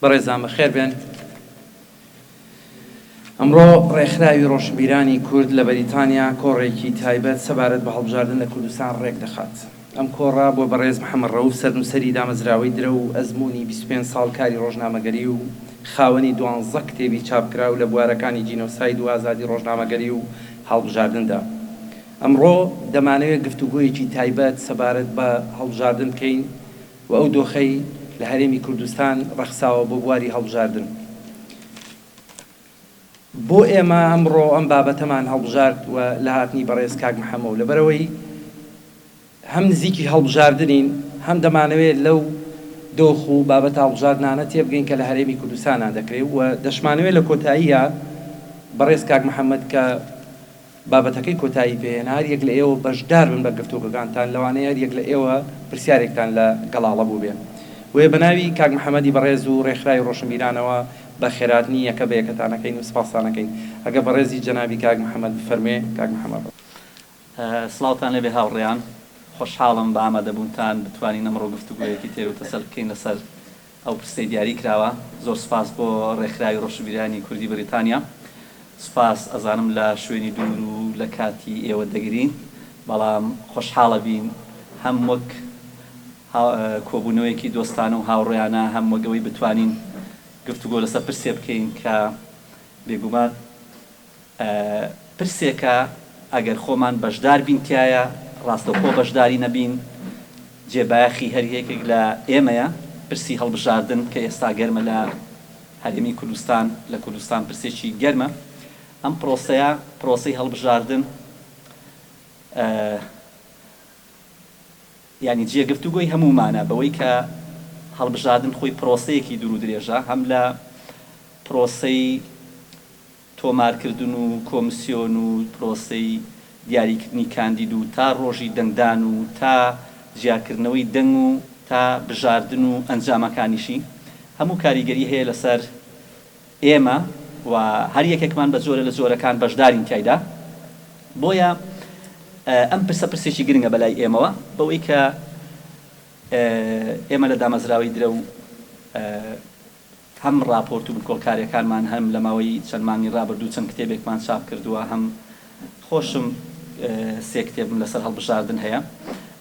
بەڕێزان بەخێربێن، ئەمڕۆ ڕێکخراوی ڕۆشنبیرانی کورد لە بەریتانیا کۆڕێکی تایبەت سەبارەت بە هەڵبژاردن لە کوردستان ڕێکدەخات. ئەم کۆڕە بۆ بەڕێز محەمەد ڕەوف سەرنووسەری دامەزراوەی درەو و ئەزموونی بیست و پێنج ساڵ کاری ڕۆژنامەگەری و خاوەنی دوانزە کتێبی چاپکراو لە بوارەکانی جینۆساید و ئازادی ڕۆژنامەگەری و هەڵبژاردندا. ئەمڕۆ دەمانەوێت گفتوگۆیەکی تایبەت سەبارەت بە هەڵبژاردن بکەین و ئەو دۆخەی لە هەرێمی کوردستان ڕەخساوە بۆ بواری هەڵبژاردن. بۆ ئێمە ئەمڕۆ ئەم بابەتەمان هەڵبژارد و لە هاتنی بەڕێز کاک محەمەو لەبەرئەوەی هەم نزیکی هەڵبژاردنین هەم دەمانەوێت لەو دۆخ و بابەتە هەڵبژاردنانە تێبگەین کە لە هەرێمی کوردستانا دەکرێ و دەشمانەوێت لە کۆتاییا بەڕێز کاک محەمەد کە بابەتەکەی کۆتایی پێهێنا، هەر یەک لە ئێوە بەشدار بن بە گفتوگۆکانتان، لەوانەیە هەر یەک لە ئێوە پرسیارێکتان لە گەڵاڵە بووبێ. بۆیە بە ناوی کاک محەمەدی بەڕێز و رێکخراوی رۆشنبیرانەوە بە خێراتنی یەکە بە یەکەتان ئەکەین و سپاستان ئەکەین. ئەگەر بەڕێزی جەنابی کاک محەمەد بفەرموێ، کاک محەمەد. سڵاوتان لێبێ هاوڕێیان، خۆشحاڵم بە ئامادەبوونتان، بتوانین ئەمڕۆ گفتوگۆیەکی تێرو تەسەل بکەین لەسەر ئەو پرسەی دیاری کراوە. زۆر سوپاس بۆ ڕێکخراوی ڕۆشنبیرانی کوردی بریتانیا. سوپاس. ئەزانم لە شوێنی دوور و لە کاتی ئێوە دەگرین، بەڵام خۆشحاڵەبین هەم وەک کۆبوونەوەیەکی دۆستانە و هاوڕێیانە، هەم وەک ئەوەی بتوانین گفتوگۆ لەسەر پرسێ بکەین کە بێگومان. پرسێکە ئەگەر خۆمان بەشدار بین تیایا ڕاستەوخۆ بەشداری نەبین جێ بایەخی هەر یەکێک لە ئێمەیە، پرسی هەڵبژاردن کە ئێستا گەرمە لە هەرێمی کوردستان لە کوردستان پرسێکی گەرمە ئەم پرۆسەیە پرۆسەی هەڵبژاردن یانی جێ گفتوگۆی هەموومانە بەوەی کە هەڵبژاردن خۆی پرۆسەیەکی دوور و درێژە هەم لە پرۆسەی تۆمارکردن و کۆمسیۆن و پرۆسەی دیاریکردنی کاندید و تا ڕۆژی دەنگدان و تا جیاکردنەوەی دەنگ و تا بژاردن و ئەنجامەکانیشی هەموو کاریگەری هەیە لەسەر ئێمە و هەر یەکێکمان بە جۆرە لە جۆرەکان بەشدارین تیایدا بۆیە ئەم پرسە پرسێکی گرنگە بەلای ئێمەوە بەوەی کە ئێمە لە دامەزراوەی درەو هەم ڕاپۆرت و بکۆڵکارییەکانمان هەم لە ماوەی چەند مانگی ڕابردوو چەند کتێبێکمان چاپ کردووە هەم خۆشم سێ کتێبم لەسەر هەڵبژاردن هەیە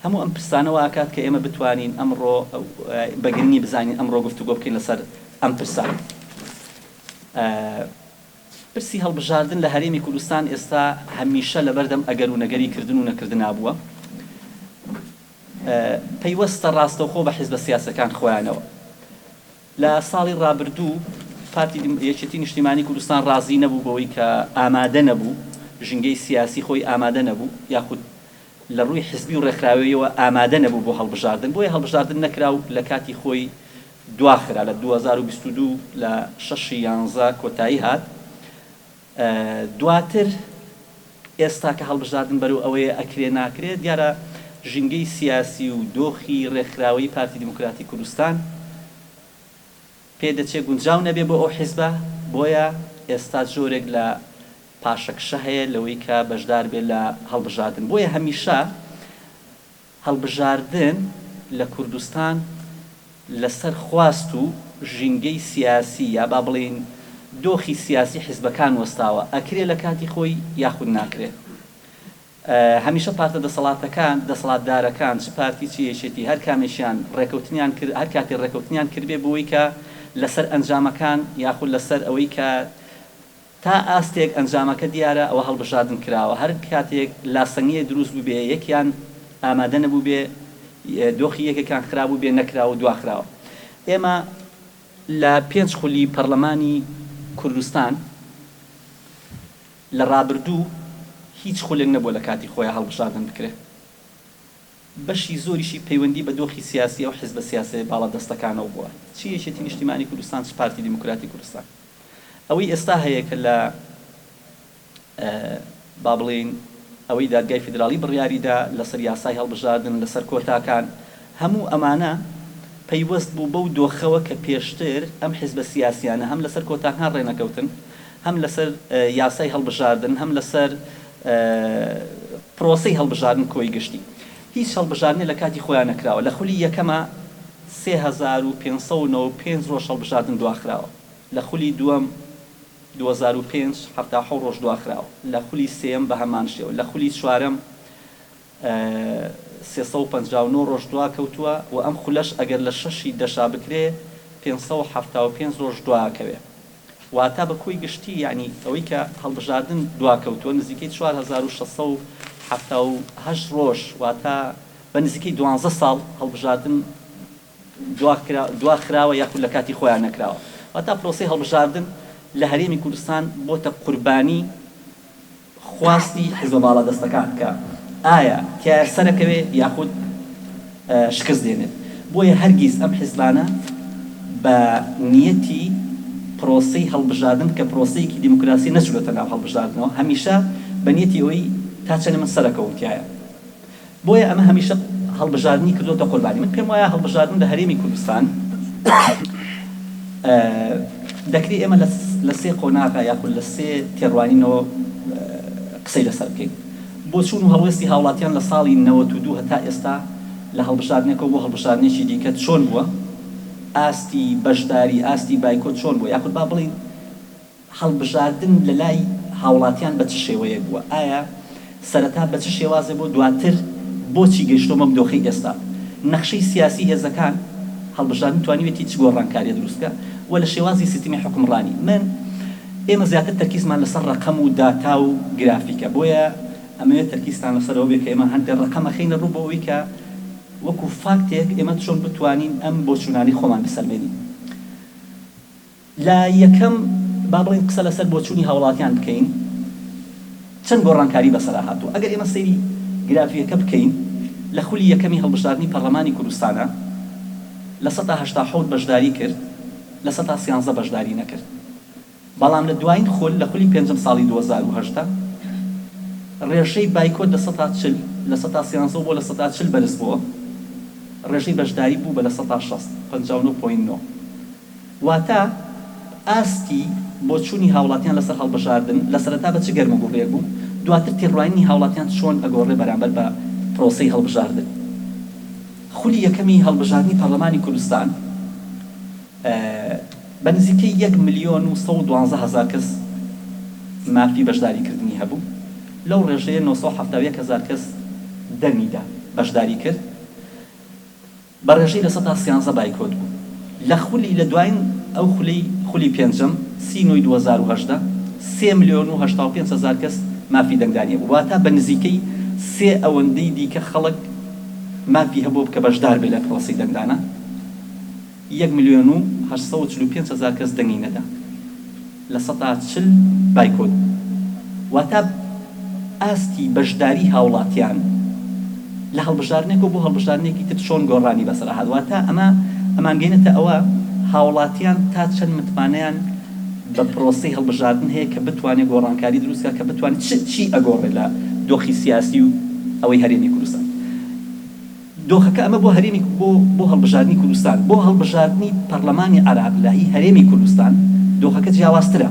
هەموو ئەم پرسانە وا ئەکات کە ئێمە بتوانین ئەمڕۆ بە گرنگی بزانین ئەمڕۆ گفتوگۆ بکەین لەسەر ئەم پرسە پرسی هەڵبژاردن لە هەرێمی کوردستان ئێستا هەمیشە لەبەردەم ئەگەر و نەگەری کردن و نەکردنا بووە پەیوەستە ڕاستەوخۆ بە حیزبە سیاسەکان خۆیانەوە. لە ساڵی ڕابردوو پارتی یەکێتی نیشتیمانی کوردستان ڕازی نەبوو بەوەی کە ئامادە نەبوو، ژینگەی سیاسی خۆی ئامادە نەبوو یاخود لە ڕووی حزبی و ڕێکخراوەییەوە ئامادە نەبوو بۆ هەڵبژاردن، بۆیە هەڵبژاردن نەکرا و لە کاتی خۆی دواخرا، لە دوو هەزار و بیست و دوو لە شەش ی یانزە کۆتایی هات. دواتر ئێستا کە هەڵبژاردن بەرەو ئەوەیە ئەکرێ ناکرێ، دیارە ژینگەی سیاسی و دۆخی رێکخراوەیی پارتی دیموکراتی کوردستان پێدەچێ گونجاو نەبێ بۆ ئەو حیزبە، بۆیە ئێستا جۆرێک لە پاشەکشە هەیە لەوەی کە بەشداربێ لە هەڵبژاردن، بۆیە هەمیشە. هەڵبژاردن لە کوردستان لەسەر خواست و ژینگەی سیاسی یا با بڵێین دۆخی سیاسی حیزبەکان وەستاوە، ئەکرێ لە کاتی خۆی یاخود ناکرێ. هەمیشە پارتە دەسەڵاتەکان، دەسەڵاتدارەکان چ پارتی چ یەکێتی هەر کامێکیان ڕێکەوتنیان کرد، هەر کاتێ ڕێکەوتنیان کردبێ بۆوەی کە لەسەر ئەنجامەکان یاخود لەسەر ئەوەی کە، تا ئاستێک ئەنجامەکە دیارە ئەوە هەڵبژاردن کراوە هەر کاتێک لاسەنگیەک دروست بووبێ یەکیان ئامادە نەبووبێ دۆخی یەکێکان خراپ بووبێ نەکراوە دواخراوە ئێمە لە پێنج خولی پەڕلەمانی کوردستان لە ڕابردوو هیچ خولێک نەبووە لە کاتی خۆیا هەڵبژاردن بکرێ. بەشی زۆریشی پەیوەندی بە دۆخی سیاسی ئەو حیزبە سیاسیە باڵا دەستەکانەوە بووە چ یەکێتی نیشتیمانی کوردستان چ پارتی دیموکراتی کوردستان ئەوەی ئێستا هەیە کە لە با بڵێین ئەوەی دادگای فیدراڵی بڕیاری دا لەسەر یاسای هەڵبژاردن لەسەر کۆتاکان هەموو ئەمانە پەیوەست بوو بەو دۆخەوە کە پێشتر ئەم حیزبە سیاسیانە هەم لەسەر کۆتاکان ڕێنەکەوتن هەم لەسەر یاسای هەڵبژاردن هەم لەسەر پرۆسەی هەڵبژاردن کۆی گشتی هیچ هەڵبژاردنێ لە کاتی خۆیا نەکراوە لە خولی یەکەما سێ هەزار و پێنج سەد و نەوەد و پێنج ڕۆژ هەڵبژاردن دواخراوە لە خولی دووەم دوو هەزار و پێنج حەفتا و حەوت ڕۆژ دواخراوە لە خولی سێیەم بە هەمان شێوە لە خولی چوارەم سێ سەد و پەنجا و نۆ ڕۆژ دواکەوتووە و ئەم خولەش ئەگەر لە شەشی دەشا بکرێ پێنج سەد و حەفتا و پێنج ڕۆژ دواکەوێ واتە بە کۆی گشتی یەعنی ئەوەی کە هەڵبژاردن دواکەوتووە نزیکەی چوار هەزار و شەش سەد و حەفتا و هەشت ڕۆژ واتە بە نزیکەی دوانزە ساڵ هەڵبژاردن دواخراوە یاخود لە کاتی خۆیان نەکراوە، واتە پرۆسەی هەڵبژاردن لە هەرێمی کوردستان بۆتە قوربانی خواستی حیزبە باڵادەستەکان کە ئایا تیایا سەرەکەوێ یاخود شکست دێنێت، بۆیە هەرگیز ئەم حیزبانە بە نیەتی پرۆسەی هەڵبژاردن کە پرۆسەیەکی دیموکراسیە نەچوونەتە ناو هەڵبژاردنەوە، هەمیشە بە نیەتی ئەوەی تا چەنێ من سەرەکەوم تیایا. بۆیە ئەمە هەمیشە هەڵبژاردنی کردۆتە قوربانی من پێم وایە هەڵبژاردن لە هەرێمی کوردستان دەکری ئێمە لە سێ قۆناغا یاخود لە سێ تێڕوانینەوە قسەی لەسەر بکەین بۆ چوون و هەڵوێستی هاوڵاتیان لە ساڵی نەوەت و دوو هەتا ئێستا لە هەڵبژاردنێکەوە بۆ هەڵبژاردنێکی دیکە چۆن بووە ئاستی بەشداری ئاستی بایکۆت چۆن بووە یاخود با بڵێین هەڵبژاردن لەلای هاوڵاتیان بە چ شێوەیەک بووە؟ ئایا سەرەتا بە چ شێوازێ بوو؟ دواتر بۆچی گەیشتووە بەم دۆخەی ئێستا؟ نەخشەی سیاسی هێزەکان، هەڵبژاردن توانیوێتی چ گۆڕانکاریە دروست بکا و لە شێوازی سیستمی حوکمڕانی؟ من ئێمە زیاتر تەرکیزمان لەسەر ڕەقەم و داتا و گرافیکە بۆیە ئەمەوێ تەرکیزتان لەسەر ئەوە بێ کە ئێمە هەندێ ڕەقەم ئەخەینە ڕوو بۆ ئەوەی کە وەکو فاکتێک ئێمە چۆن بتوانین ئەم بۆچوونانەی خۆمان بسەلمێنین. لە یەکەم با بڵێین قسە لەسەر بۆچوونی هاوڵاتیان بکەین چەند گۆڕانکاری بەسەرا هاتووە ئەگەر ئێمە سەیری گرافیەکە بکەین لە خولی یەکەمی هەڵبژاردنی پەرلەمانی کوردستانا لە سەتا هەشتا حەوت بەشداری کرد لە سەتا سیانزە بەشداری نەکرد بەڵام لە دوایین خول لە خولی پێنجەم ساڵی دوو هەزار و هەژدە ڕێژەی بایکۆت لە سەتا چل لە سەتا سیانزەوە بۆ لە سەتا چل بەرز بووە ڕێژەی بەشداری بوو بە لە سەتا شەست، پەنجا و نۆ پۆینت نۆ. واتە ئاستی بۆچوونی هاوڵاتیان لەسەر هەڵبژاردن لە سەرەتا بە چ گەرم و گوڕێک بوو، دواتر تێڕوانینی هاوڵاتیان چۆن ئەگۆڕێ بەرامبەر بە پرۆسەی هەڵبژاردن. خولی یەکەمی هەڵبژاردنی پەڕلەمانی کوردستان بە نزیکەی یەک ملیۆن و سەد و دوازدە هەزار کەس مافی بەشداری کردنی هەبوو، لەو ڕێژەیە نۆ سەد و حەفتا و یەک هەزار کەس دەنگی دا بەشداری کرد. بە ڕێژەی لە سەدا سیانزە بایکۆت بوو لە خولی لە دواین ئەو خولەی خولی پێنجەم سی نۆی دوو هەزار و هەژدە سێ ملیۆن و هەشتا و پێنج هەزار کەس مافی دەنگدانی هەبوو واتا بە نزیکەی سێ ئەوەندەی دیکە خەڵک مافی هەبوو کە بەشدار بێت لە پرۆسەی دەنگدانە یەک ملیۆن و هەشت سەد و چل و پێنج هەزار کەس دەنگی نەدا. لە سەدا چل بایکۆت واتا ئاستی بەشداری هاوڵاتیان لە هەڵبژاردنێکەوە بۆ هەڵبژاردنێکی تر چۆن گۆڕانی بەسەرا هات واتا ئەمە ئەمانگەینەتە ئەوە هاوڵاتیان تا چەند متمانەیان بە پرۆسەی هەڵبژاردن هەیە کە بتوانێت گۆڕانکاری دروست کات کە بتوانێت چ چی ئەگۆڕێت لە دۆخی سیاسی و ئەوەی هەرێمی کوردستان. دۆخەکە ئەمە بۆ هەرێمی بۆ بۆ هەڵبژاردنی کوردستان، بۆ هەڵبژاردنی پەڕلەمانی عێراق لە هی هەرێمی کوردستان دۆخەکە جیاوازترە.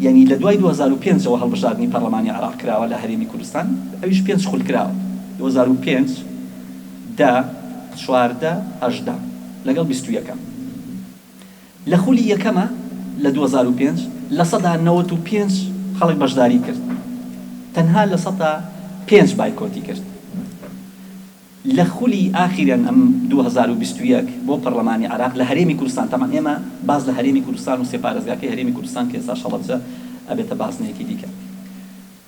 یانی لە دوای دوو هەزار و پێنج ەوە هەڵبژاردنی پەڕلەمانی عێراق کراوە لە هەرێمی کوردستان، ئەویش پێنج خول کراوە، دوو هەزار و پێنج، دە، چواردە، هەژدە لەگەڵ بیست و یەکەم. لە خولی یەکەما لە دوو هەزار و پێنج لە سەدا نەوەد و پێنج خەڵک بەشداری کرد تەنها لە سەدا پێنج بایکۆتی کرد لە خولی ئاخیرەن ئەم دوو هەزار و بیست و یەک بۆ پەڕلەمانی عێراق لە هەرێمی کوردستان تەمان ئێمە باس لە هەرێمی کوردستان و سێ پارێزگاکەی هەرێمی کوردستان کە ئێستاش هەڵەبجە ئەبێتە بازنەیەکی دیکە.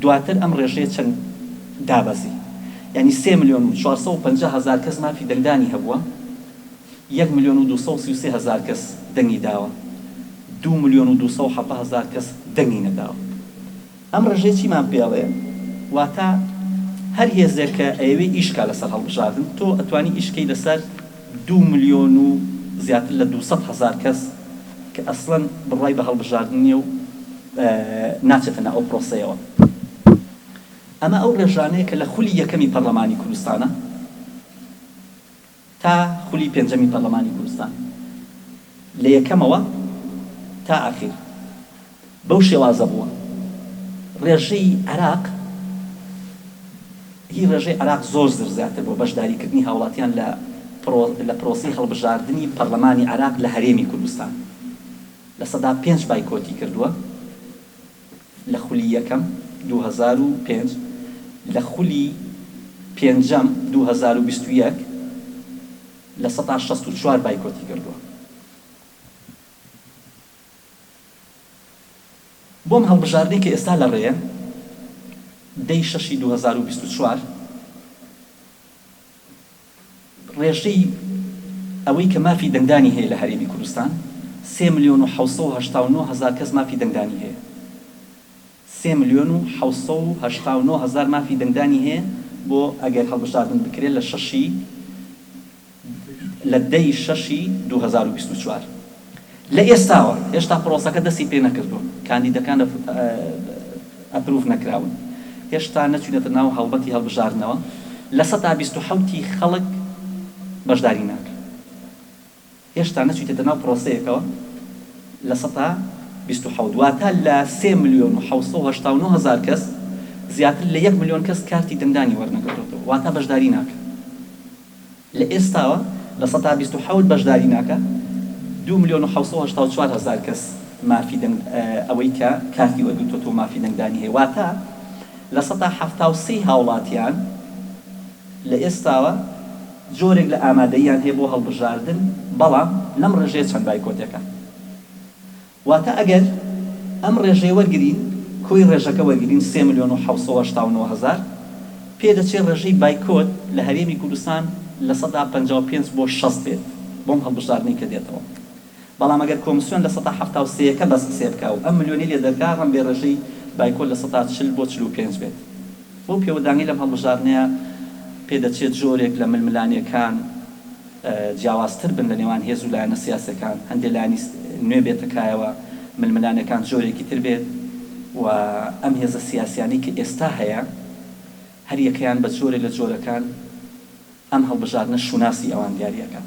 دواتر ئەم ڕێژەیە چەند دابەزی، یانی سێ ملیۆن و چوار سەد و پەنجا هەزار کەس مافی دەنگدانی هەبووە، یەک ملیۆن و دوو سەد و سی و سێ هەزار کەس دەنگی داوە، دوو ملیۆن و دوو سەد و حەڤدە هەزار کەس دەنگی نەداوە. ئەم ڕێژەیە چیمان پێ ئەڵێ؟ واتە هەر هێزێک کە ئەیەوێ ئیش کا لەسەر هەڵبژاردن، تۆ ئەتوانی ئیش کەی لەسەر دوو ملیۆن و زیاتر لە دوو سەد هەزار کەس کە ئەسڵەن بڕوای بە هەڵبژاردن نییە و ناچێتە ناو ئەو پرۆسەیەوە. ئەمە ئەو ڕێژانەیە کە لە خولی یەکەمی پەڕلەمانی کوردستانە تا خولی پێنجەمی پەڕلەمانی کوردستان، لە یەکەمەوە تا ئاخیر. بەو شێوازە بووە ڕێژەی عێراق هی ڕێژەی عێراق زۆر زر زیاتر بووە بەشداری کردنی هاوڵاتیان لە پڕۆ لە پرۆسەی هەڵبژاردنی پەڕلەمانی عێراق لە هەرێمی کوردستان لە سەدا پێنج بایکۆتی کردووە لە خولی یەکەم دوو هەزار و پێنج لە خولی پێنجەم دوو هەزار و بیست و یەک لە سەدا شەست و چوار بایکۆتی کردووە. بۆم هەڵبژاردەی کە ئێستا لە ڕێیە دەی شەشی دوو هەزار و بیست و چوار ڕێژەی ئەوەی کە مافی دەنگدانی هەیە لە هەرێمی کوردستان سێ ملیۆن و حەوت سەد و هەشتا و نۆ هەزار کەس مافی دەنگدانی هەیە. سێ ملیۆن و حەوت سەد و هەشتا و نۆ هەزار مافی دەنگدانی هەیە بۆ ئەگەر هەڵبژاردن بکرێت لە شەشی لە دە ی شەشی دوو هەزار و بیست و چوار. لە ئێستاوە هێشتا پرۆسەکە دەستی پێ نەکردووە، کاندیدەکان ئەپروڤ نەکراون، هێشتا نەچوونەتە ناو هەڵمەتی هەڵبژاردنەوە، لە سەدا بیست و حەوت ی خەڵک بەشداری ناکەن. هێشتا نەچویتەتە ناو پرۆسەیەکەوە لە سەتا بیست و حەوت واتە لە سێ ملیۆن و حەوت سەد و هەشتا و نۆ هەزار کەس زیاتر لە یەک ملیۆن کەس کارتی دەنگدانی وەرنەگرتۆتەوە واتە بەشداری ناکەن لە ئێستاوە لە سەتا بیست و حەوت بەشداری ناکە دوو ملیۆن و حەوت سەد و هەشتا و چوار هەزار کەس مافی دەنگ ئەوەی کە کارتی وەرگرتۆتەوە مافی دەنگدانی هەیە واتە لە سەتا حەفتا و سێ هاوڵاتیان لە ئێستاوە جۆرێک لە ئامادەییان هەیە بۆ هەڵبژاردن، بەڵام لەم ڕێژەیە چەند بایکۆتێکە؟ واتە ئەگەر ئەم ڕێژەیە وەرگرین، کۆی ڕێژەکە وەرگرین، سێ ملیۆن و حەوت سەد و هەشتا و نۆ هەزار، پێدەچێت ڕێژەی بایکۆت لە هەرێمی کوردستان لە سەدا پەنجا و پێنج بۆ شەست بێت بۆم هەڵبژاردنەی کە دێتەوە. بەڵام ئەگەر کۆمسیۆن لە سەتا حەفتا و سێیەکە بەس قسێ بکا و ئەم ملیۆنەی لێ دەرکا ڕەمبێ ڕێژەی بایکۆت لە سەتا چل بۆ چل و پێنج بێت بەو پێوە دانگەی لەم هەڵبژاردنەیا پێ دەچێت جۆرێک لە ململانێکان جیاواز تر بن لە نێوان هێز و لایەنە سیاسەکان هەندێ لایەنی نوێ بێتە کایەوە ململانێکان جۆرێکی تر بێت و ئەم هێزە سیاسیانەی کە ئێستا هەیە هەر یەکەیان بە جۆرێ لە جۆرەکان ئەم هەڵبژاردنە شوناسی ئەوان دیاری ئەکات.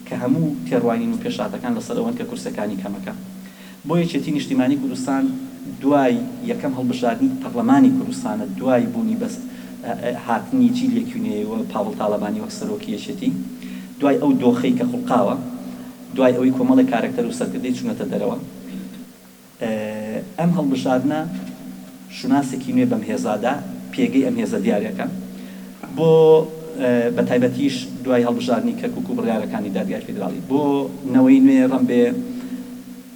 کە هەموو تێڕوانین و پێشهاتەکان لەسەر ئەوەن کە کورسەکانی کەمەکە بۆ یەکێتی نیشتیمانی کوردستان دوای یەکەم هەڵبژاردنی پەڕلەمانی کوردستانە دوای بوونی بەس هاتنی جیل یەکیونەیەی و پاڤڵ تاڵەبانی وەک سەرۆکی یەکێتی دوای ئەو دۆخەی کە خوڵقاوە دوای ئەوەی کۆمەڵێک کارەکتەر و سەرکردەی چونەتە دەرەوە ئەم هەڵبژاردنە شوناسێکی نوێ بەم هێزادا، پێگەی ئەم هێزە دیارەکە بۆ بە تایبەتیش دوای هەڵبژاردنی کەرکوک و بڕیارەکانی دادگای فیدراڵی بۆ نەوەی نوێ ڕەم بێ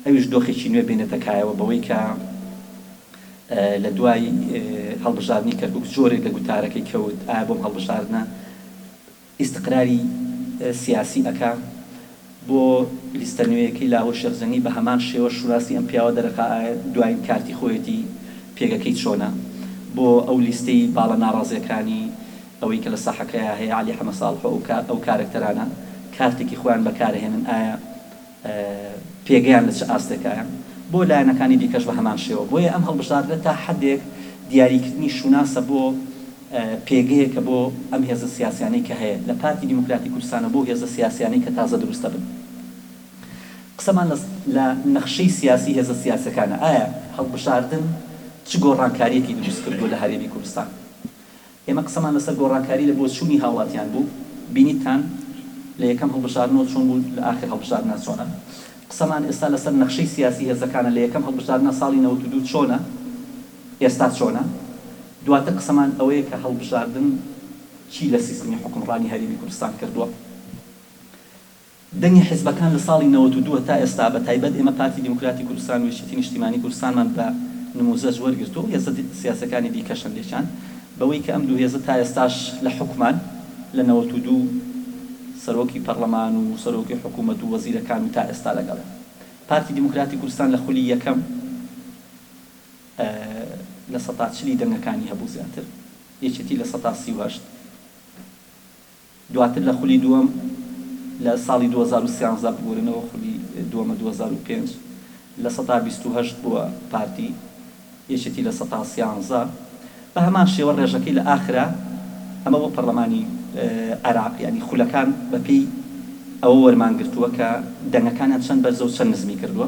ئەویش دۆخێکی نوێ بێنێتە کایەوە بەوەی کە لە دوای هەڵبژاردنی کەرکوک زۆرێک لە گوتارەکەی کەوت ئایا بۆم هەڵبژاردنە ئیستقراری سیاسی ئەکا بۆ لیستە نوێیەکەی لاهور شێخ جەنگی بە هەمان شێوە شوناسی ئەم پیاوە دەرەخا ئایا دوایین کارتی خۆیەتی پێگەکەی چۆنە بۆ ئەو لیستەی باڵە ناڕازیەکانی ئەوەی کە لە ساحەکەیا هەیە عەلی حەمە ساڵح و ئەو کارەکتەرانە کارتێکی خۆیان بەکارەهێنن ئایا پێگەیان لە چ ئاستێکایە، بۆ لایەنەکانی دیکەش بە هەمان شێوە، بۆیە ئەم هەڵبژاردنە تا حەدێک دیاریکردنی شوناسە بۆ پێگەیەکە بۆ ئەم هێزە سیاسیانەی کە هەیە، لە پارتی دیموکراتی کوردستانەوە بۆ هێزە سیاسیانەی کە تازە دروست دەبن. قسەمان لە لە نەخشەی سیاسی هێزە سیاسیەکانە، ئایا هەڵبژاردن چ گۆڕانکاریەکی دروست کردووە لە هەرێمی کوردستان؟ ئێمە قسەمان لەسەر گۆڕانکاری لە بۆچوونی هاوڵاتیان بوو، بینیتتان لە یەکەم هەڵبژاردنەوە چۆن بوون لە ئاخر هەڵبژاردنا چۆنن. قسەمان ئێستا لەسەر نەخشەی سیاسی هێزەکانە لە یەکەم هەڵبژاردنا ساڵی نەوەد و دوو چۆنە ئێستا چۆنە. دواتر قسەمان ئەوەیە کە هەڵبژاردن چی لە سیستمی حوکمڕانی هەرێمی کوردستان کردووە. دەنگی حیزبەکان لە ساڵی نەوەد و دوو تا ئێستا بە تایبەت ئێمە پارتی دیموکراتی کوردستان و یەکێتی نیشتیمانی کوردستانمان بە نموزەج وەرگرتووە و هێزە سیاسیەکانی دیکەش هەندێکیان بەوەی کە ئەم دوو هێزە تا ئێستاش لە حوکمان لە نەوەد و دوو سەرۆکی پەڕڵەمان و سەرۆکی حکومەت و وەزیرەکان و تا ئێستا لەگەڵێن پارتی دیموکراتی کوردستان لە خولی یەکەم لە سەتا چلی دەنگەکانی هەبوو زیاتر یەکێتی لە سەتا سی و هەشت. دواتر لە خولی دووەم لە ساڵی دوو هەزار و سیانزە ببورنەوە خولی دووەمە دوو هەزار و پێنج لە سەتا بیست و هەشت بووە پارتی یەکێتی لە سەتا سیانزە بە هەمان شێوە ڕێژەکەی لە ئاخرا ئەمە بۆ پەڕلەمانی عێراق یانی خولەکان بە پێی ئەوە وەرمان گرتووە کە دەنگەکانیان چەند بەرزە و چەند نزمی کردووە.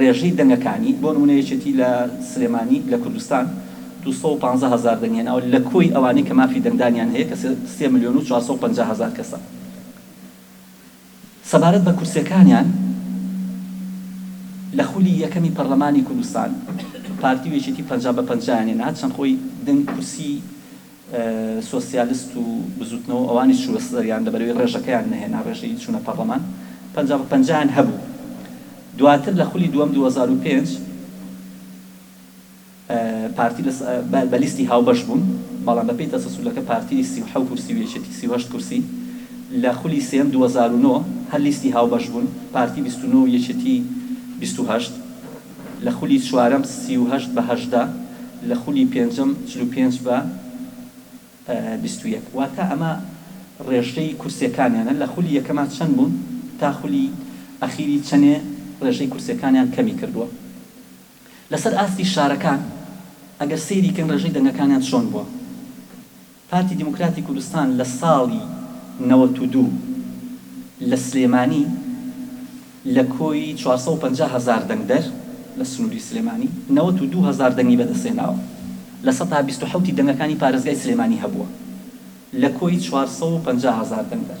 ڕێژەی دەنگەکانی، بۆ نموونە یەکێتی لە سلێمانی لە کوردستان دوو سەد و پازدە هەزار دەنگ هێناوە، لە کۆی ئەوانەی کە مافی دەنگدانیان هەیە کە سێ ملیۆن و چوار سەد و پەنجا هەزار کەسە. سەبارەت بە کورسیەکانیان لە خولی یەکەمی پەرلەمانی کوردستان، پارتی و یەکێتی پەنجا بە پەنجایان هێنا، هەرچەند خۆی دەنگ کورسی سۆسیالست و بزوتنەوە ئەوانیش چوو سەریان لەبەرەوەی ڕێژەکەیان نەهێنا ڕێژەی چونە پەڕلەمان پەنجا بە پەنجا یان هەبوو دواتر لە خولی دووەم دوو هەزار و پێنج پارتی لە بە لیستی هاوبەش بوون بەڵام بە پێی تەسەسولەکە پارتی سی و حەو کورسی و یەکێتی سی و هەشت کورسی لە خولی سێم دوو هەزار و نۆ هەر لیستی هاوبەش بوون پارتی بیست و نۆ و یەکێتی بیست و هەشت لە خولی چوارەم سی و هەشت بە هەژدە، لە خولی پێنجەم چل و پێنج بە بیست و یەک. واتە ئەمە ڕێژەی کورسیەکانیانە، لە خولی یەکەما چەند بوون تا خولی ئەخیری چەنێ ڕێژەی کورسیەکانیان کەمی کردووە. لەسەر ئاستی شارەکان ئەگەر سەیری کەین ڕێژەی دەنگەکانیان چۆن بووە. پارتی دیموکراتی کوردستان لە ساڵی نەوەت و دوو لە سلێمانی لە کۆی چوار سەد و پەنجا هەزار دەنگدەر لە سنووری سلێمانی نەوەت و دوو هەزار دەنگی بەدەستهێناوە، لە سەتا بیست و حەوتی دەنگەکانی پارێزگای سلێمانی هەبووە لە کۆی چوار سەد و پەنجا هەزار دەنگدەر.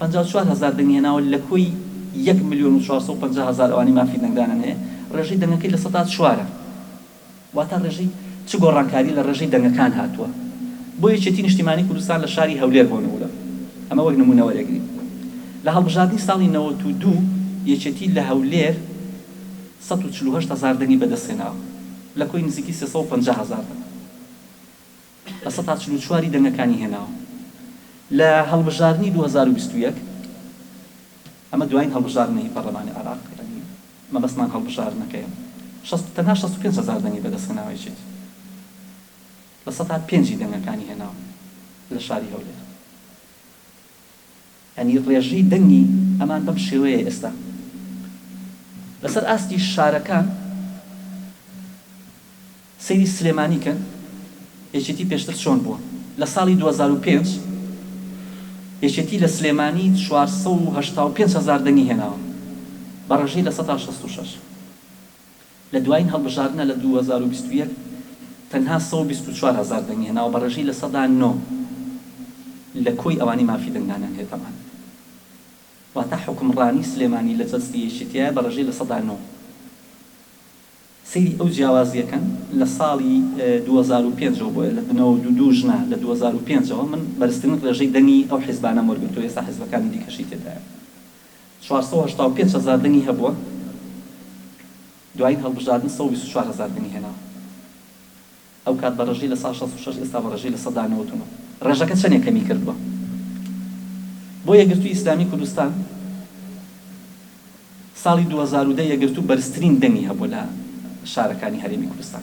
پەنجا و چوار هەزار دەنگی هێناوە لە کۆی یەک ملیۆن و چوار سەد و پەنجا هەزار ئەوانەی مافی دەنگدانیان هەیە، ڕێژەی دەنگەکەی لە سەدا چوارە. واتە ڕێژەی چ گۆڕانکاری لە ڕێژەی دەنگەکان هاتووە؟ بۆ یەکێتی نیشتیمانی کوردستان لە شاری هەولێر بۆ نموونە، ئەمە وەک نموونە وەرێگرین، لە هەڵبژاردنی ساڵی نەوەت و دوو یەکێتی لە هەولێر سەد و چل و هەشت هەزار دەنگی بەدەستهێناوە لە کۆی نزیکی سێ سەد و پەنجا هەزار دەنگ. بە سەتا چل و چوار ی دەنگەکانی هێناوە لە هەڵبژاردنی دوو هەزار و بیست و یەک، ئەمە دوایین هەڵبژاردنە هی پەڕلەمانی عێراق، یانی مەبەستمان هەڵبژاردنەکەیە، شەست تەنها شەست و پێنج هەزار دەنگی بەدەست هێناوە، یەکێتی لە سەتا پێنج ی دەنگەکانی هێناوە لە شاری هەولێر. یانی ڕێژەی دەنگی ئەمان بەم شێوەیە ئێستا لەسەر ئاستی شارەکان سەیری سلێمانی کەن یەکێتی پێشتر چۆن بووە لە ساڵی دوو هەزار و پێنج یەکێتی لە سلێمانی چوار سەد و هەشتا و پێنج هەزار دەنگی هێناوە بە ڕێژەی لە سەدا شەست و شەش. لە دوایین هەڵبژاردنە لە دوو هەزار و بیست و یەک تەنها سەد و بیست و چوار هەزار دەنگی هێناوە بە ڕێژەی لە سەدا نۆ لە کۆی ئەوانەی مافی دەنگدانیان هەیە تەبعەن واتە حوکمڕانی سلێمانی لە جەستەی یەکێتیە بە ڕێژەی لە سەدا نۆ سەیری ئەو جیاوازیە کەن لە ساڵی دوو هەزار و پێنج ەوە بۆیە لە نەوەد و دوو ژنە لە دوو هەزار و پێنج ەوە من بەرزترین ڕێژەی دەنگی ئەو حیزبانەم وەرگرتوە ئێستا حیزبەکانی دیکەشی تێدایە. چوار سەد و هەشتا و پێنج هەزار دەنگی هەبووە، دوایین هەڵبژاردن سەد و بیست و چوار هەزار دەنگی هێناوە. ئەوکات بە ڕێژەی لە سەدا شەست و شەش، ئێستا بە ڕێژەی لە سەدا نەوەد و نۆ. ڕێژەکە چەندێک کەمی کردووە. بۆ یەکگرتووی ئیسلامیی کوردستان، ساڵی دوو هەزار و دە یەکگرتوو بەرزترین دەنگی هەبووە لە شارەکانی هەرێمی کوردستان.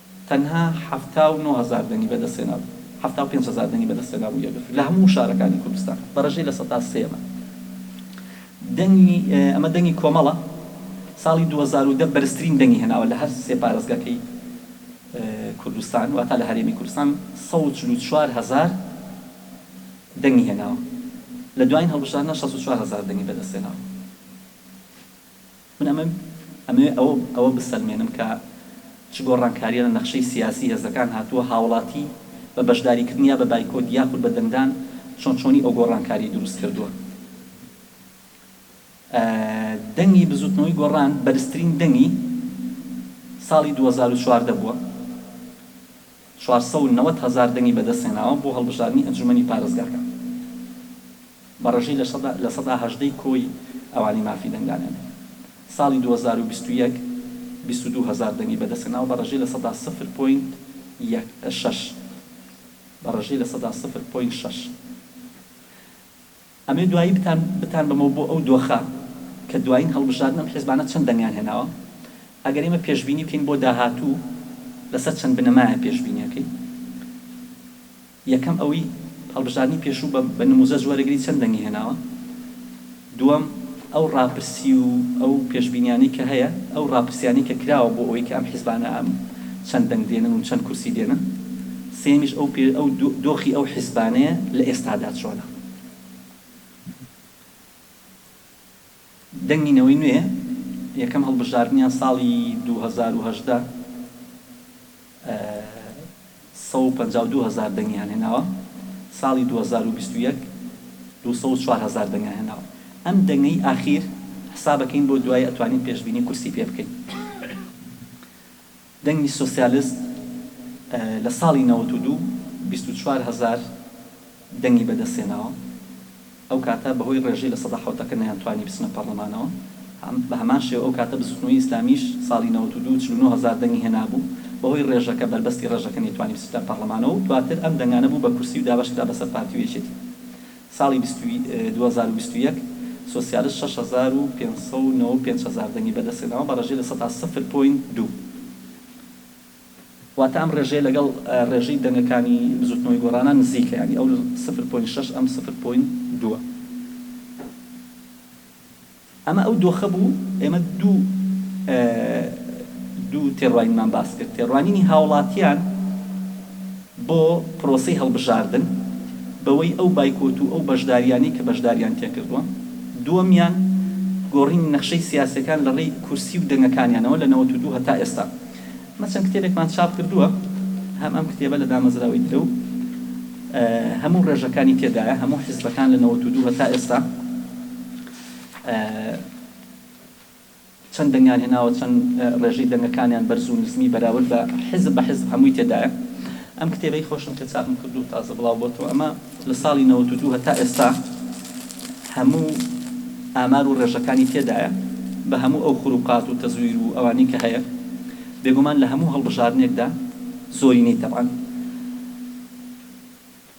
تەنها حەفتا و نۆ هەزار دەنگی بەدەستهێنابوو، حەفتا و پێنج هەزار دەنگی بەدەستهێنابوو یەکگرتوو لە هەموو شارەکانی کوردستان بە رێژەی لە سەدا سێ بە دەنگی ئەمە دەنگی کۆمەڵە ساڵی دوو هەزار و دە بەرزترین دەنگی هێناوە لە هەر سێ پارێزگاکەی کوردستان واتا لە هەرێمی کوردستان سەد و چل و چوار هەزار دەنگی هێناوە لە دوایین هەڵبژاردنە شەست و چوار هەزار دەنگی بەدەستهێناوە. من ئەمەوێت ئەوە بسەلمێنم کە چ گۆڕانکارییە لە نەخشەی سیاسیی هێزەکان هاتووە، هاوڵاتی بە بەشداریکردن یا بە بایکۆت یاخود بە دەنگدان چۆن چۆنی ئەو گۆڕانکارییە دروست کردووە. دەنگی بزووتنەوەی گۆڕان بەرزترین دەنگی ساڵی دوو هەزار و چواردە بووە. چوار سەد و نەوەد هەزار دەنگی بەدەستهێناوە بۆ هەڵبژاردنی ئەنجوومەنی پارێزگاکان، بە ڕێژەی لە سەدا لە سەدا هەژدە ی کۆی ئەوانەی مافی دەنگدانیان هەیە. ساڵی دوو هەزار و بیست و یەک بیست و دوو هەزار دەنگی بەدەستهێناوە بە ڕێژەی لە سەدا سفر پۆینت یەک شەش بە ڕێژەی لە سەدا سفر پۆینت شەش. ئەمەی دوایی بتان بتان بەمەوە بۆ ئەو دۆخە کە دوایین هەڵبژاردن ئەم حیزبانە چەند دەنگیان هێناوە ئەگەر ئێمە پێشبینی بکەین بۆ داهاتوو لەسەر چەند بنەمایە پێشبینیەکەی یەکەم ئەوەی هەڵبژاردنی پێشوو بە بە نموزەج وەرەگری چەند دەنگی هێناوە دووەم ئەو ڕاپرسی و ئەو پێشبینیانەی کە هەیە ئەو ڕاپرسیانەی کە کراوە بۆ ئەوەی کە ئەم حیزبانە ئەم چەند دەنگ دێنن و چەند کورسی دێنن سێمیش ئەو پێ ئەو دۆخی ئەو حیزبانەیە لە ئێستادا چۆنە. دەنگی نەوەی نوێ یەکەم هەڵبژاردنیان ساڵی دوو هەزار و هەژدە سەد و پەنجا و دوو هەزار دەنگیان هێناوە، ساڵی دوو هەزار و بیست و یەک دوو سەد و چوار هەزار دەنگیان هێناوە. ئەم دەنگەی ئاخیر حسابەکەین بۆ دوایی ئەتوانین پێشبینی کورسی پێ بکەین. دەنگی سۆسیالست لە ساڵی نەوەت و دوو بیست و چوار هەزار دەنگی بەدەستهێناوە، ئەو کاتە بەهۆی ڕێژەی لە سەدا حەوتەکە نەیانتوانی بچنە پەڕڵەمانەوە، بە هەمان شێوە ئەو کاتە بزوتنەوەی ئیسلامیش ساڵی نەوەت و دوو چل و نۆ هەزار دەنگی هێنابوو، بەهۆی ڕێژەکە بەربەستی ڕێژەکە نەیتوانی بچتە پەڕڵەمانەوە و دواتر ئەم دەنگانە بوو بە کورسی و دابەش کرا بەسەر پارتی و یەکێتی. ساڵی دوو هەزار و بیست و یەک سۆسیالست شەش هەزار و پێنج سەد و نەوە و پێنج هەزار دەنگی بەدەستهێناوە بە ڕێژەی لە سەدا سفر پۆینت دوو، واتە ئەم ڕێژەیە لەگەڵ ڕێژەی دەنگەکانی بزوتنەوەی گۆڕانان نزیکە یانی ئەو سفر پۆینت شەش ئەم سفر پۆینت دووە. ئەمە ئەو دۆخە بوو، ئێمە دوو دوو تێڕوانینمان باس کرد، تێڕوانینی هاوڵاتیان بۆ پرۆسەی هەڵبژاردن بەوەی ئەو بایکۆت و ئەو بەشداریانەی کە بەشداریان تێکردووە، دووەمیان گۆڕینی نەخشەی سیاسیەکان لە ڕێی کورسی و دەنگەکانیانەوە لە نەوەت و دوو هەتا ئێستا مە چەند کتێبێکمان چاپ کردووە هەم ئەم کتێبە لە دامەزراوەی درەو هەموو ڕێژەکانی تێدایە هەموو حیزبەکان لە نەوەت و دوو هەتا ئێستا چەند دەنگیان هێناوە چەند ڕێژەی دەنگەکانیان بەرز و نزمی بەراورد بە حیزب بە حیزب هەمووی تێدایە ئەم کتێبەی خۆشم کە چاپم کردوو تازە بڵاو بۆتەوە ئەمە لە ساڵی نەوەت و دوو هەتا ئێستا هەموو ئامار و ڕێژەکانی تێدایە بە هەموو ئەو خروقات و تەزویر و ئەوانەی کە هەیە بێگومان لە هەموو هەڵبژاردنێکدا زۆرینەی تەبعەن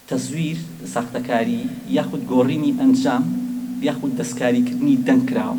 تەزویر ساختەکاری یاخود گۆڕینی ئەنجام یاخود دەستکاریکردنی دەنگ کراوە.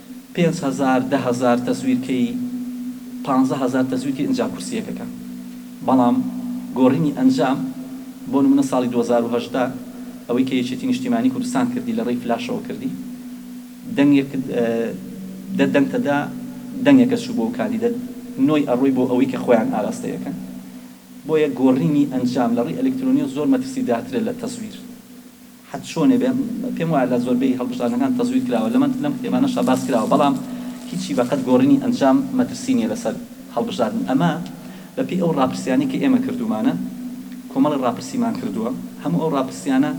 پێنج هەزار دە هەزار تەزویر کەی پانزە هەزار تەزویر کەی ئنجا کورسیەکەکە بەڵام گۆڕینی ئەنجام بۆ نمونە ساڵی دوو هەزار و هەژدە ئەوەی کە یەکێتی نیشتیمانی کوردستان کردی لە ڕێی فلاشەوە کردی دەنگێک دە دەنگتە دا دەنگێکە چوو بۆ کاندیدە نۆی ئەڕۆی بۆ ئەوەی کە خۆیان ئاراستەیەکەن بۆیە گۆڕینی ئەنجام لە ڕێی ئەلکترۆنیەوە زۆر مەترسی دارترە لە تەزویر حەد چۆنێ بێ پێم وایە لە زۆربەی هەڵبژاردنەکان تەزویر کراوە لەمە لەم کتێبانەشا باس کراوە بەڵام هیچی بە قەد گۆڕینی ئەنجام مەترسی نیە لەسەر هەڵبژاردن ئەمە بە پێی ئەو ڕاپرسیانەی کە ئێمە کردومانە کۆمەڵێ ڕاپرسیمان کردوە هەموو ئەو ڕاپرسیانە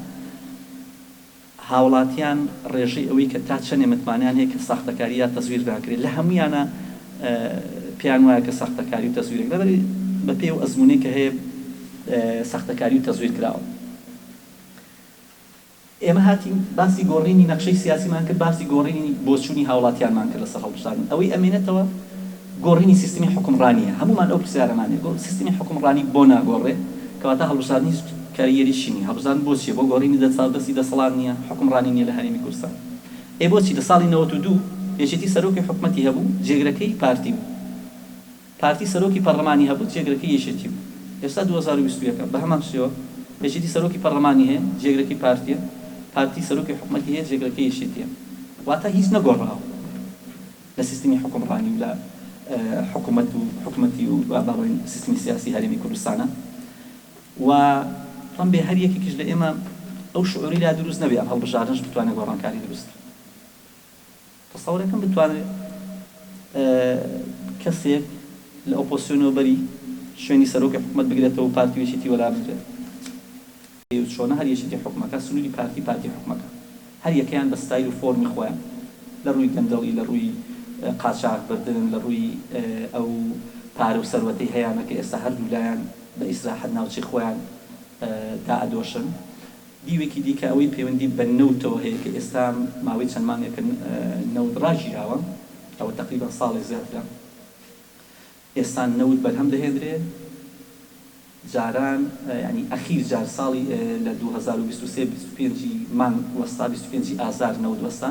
هاوڵاتیان ڕێژەی ئەوەی کە تا چەنێ متمانەیان هەیە کە ساختەکاری یا تەزویر ناکرێ لە هەمویانا پێیان وایە کە ساختەکاری و تەزویرێک نەبەری بە پێی ئەو ئەزمونەی کە هەیە ساختەکاری و تەزویر کراوە. ئێمە هاتین باسی گۆڕینی نەخشەی سیاسیمان کرد، باسی گۆڕینی بۆچوونی هاوڵاتیانمان کرد لەسەر هەڵبژاردن، ئەوەی ئەمێنێتەوە گۆڕینی سیستمی حوکمڕانییە، هەموومان ئەو پرسیارەمان هەیە، سیستمی حوکمڕانی بۆ ناگۆڕێ، کەواتە هەڵبژاردن هیچ کاریگەریی نییە، هەڵبژاردن بۆ چییە؟ بۆ گۆڕینی دەستی دەسەڵات نییە؟ حوکمڕانی نییە لە هەرێمی کوردستان؟ ئەی بۆچی لە ساڵی نەوەت و دوو یەکێتی سەرۆکی حکومەتی هەبوو، جێگرەکەی پارتی بوو؟ پارتی سەرۆکی پەڕلەمانی هەبوو جێگرەکەی یەکێتی بوو ئێستا دوو هەزار و بیست و یەک ە بەهەمان شێوە یەکێتی سەرۆکی پەڕلەمانی هەیە جێگرەکەی پارتیە پارتی سەرۆکی حکومەتی هەیە جێگرەکەی یەکێتیە واتا هیچ نەگۆڕاوە لە سیستمی حوکمڕانی و لە حکومەت و حکومەتی و با بڵێین سیستمی سیاسی هەرێمی کوردستانا و ڵەم بێ هەر یەکێکیش لە ئێمە ئەو شعوری لا دروست نەبێ ئەم هەڵبژاردنەش بتوانێ گۆڕانکاری دروست تەسەورەکەم بتوانرێ کەسێک لە ئۆپۆسیۆنەوە بەری شوێنی سەرۆکی حکومەت بگرێتەوە و پارتی و یەکێتی وەلا بگرێت؟ ئێ و چۆنە هەر یەکێتی حوکمەکە سنوری پارتی پارتی حوکمەکە؟ هەر یەکەیان بە ستایل و فۆرمی خۆیان لە رووی گەندەڵی لە رووی قاچاغ بردن لە رووی ئەو پارە و سەروەتەی هەیانە کە ئێستا هەردوو لایان بە ئیسراحەت ناوچەی خۆیان دائەدۆشن. دیوێکی دیکە ئەوەی پەیوەندی بە نەوتەوە هەیە کە ئێستا ماوەی چەند مانگێکە نەوت ڕاگیراوە، ئەوە تەقریبەن ساڵێک زیاترە ئێستا نەوت بەرهەم دەهێندرێ، جاران یانی ئەخیر جار ساڵی لە دوو هەزار و بیست و سێ بیست و پێنج ی مانگ وەستا بیست و پێنج ی ئازار نەوت وەستا،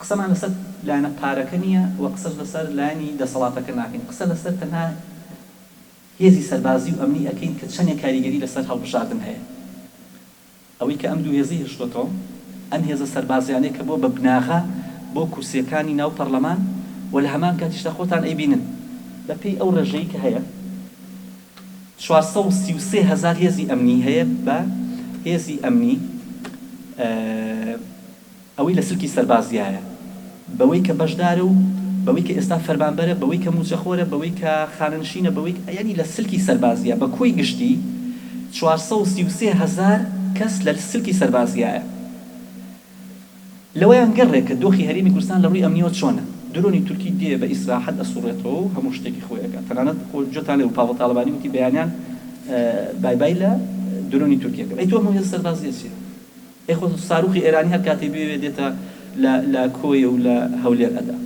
قسەمان لەسەر لایەنە پارەکە نییە و قسەش لەسەر لایەنی دەسەڵاتەکە ناکەین، قسە لەسەر تەنها هێزی سەربازی و ئەمنی ئەکەین کە چەندێک کاریگەری لەسەر هەڵبژاردن هەیە. ئەوەی کە ئەم دوو هێزەی هێشتۆتەوە، ئەم هێزە سەربازیانەیە کە بۆ بە بناغە بۆ کورسییەکانی ناو پەڕلەمان و لە هەمان کاتیشدا خۆتان ئەیبینن، بە پێی ئەو ڕێژەی کە هەیە چوار سەد و سی و سێ هەزار هێزی ئەمنی هەیە بە هێزی ئەمنی. ئەوەی لە سلکی سەربازیایە، بەوەی کە بەشدارە و بەوەی کە ئێستا فەرمانبەرە، بەوەی کە مووچەخۆرە، بەوەی کە خانەنشینە، بەوەی کە، یانی لە سلکی سەربازییە بە کۆی گشتی چوار سەد و سی و سێ هەزار کەس لە سلکی سەربازیایە. لەوەیان گەڕێ کە دۆخی هەرێمی کوردستان لە ڕووی ئەمنییەوە چۆنە. درۆنی تورکی دێ بە ئیسراحەت ئەسووڕێتەوە و هەموو شتێکی خۆی ئەکا. تەنانەت جۆتان لێ بوو پاڤڵ تاڵەبانی وتی بەیانیان بای بای لە درۆنی تورکی ئەکەم. ئەی تۆ ئەم هێزە سەربازییە چییە؟ ئەی خۆ ساروخی ئێرانی هەر کاتێ بوێ دێتە لە لە کۆیە و لە هەولێر ئەدا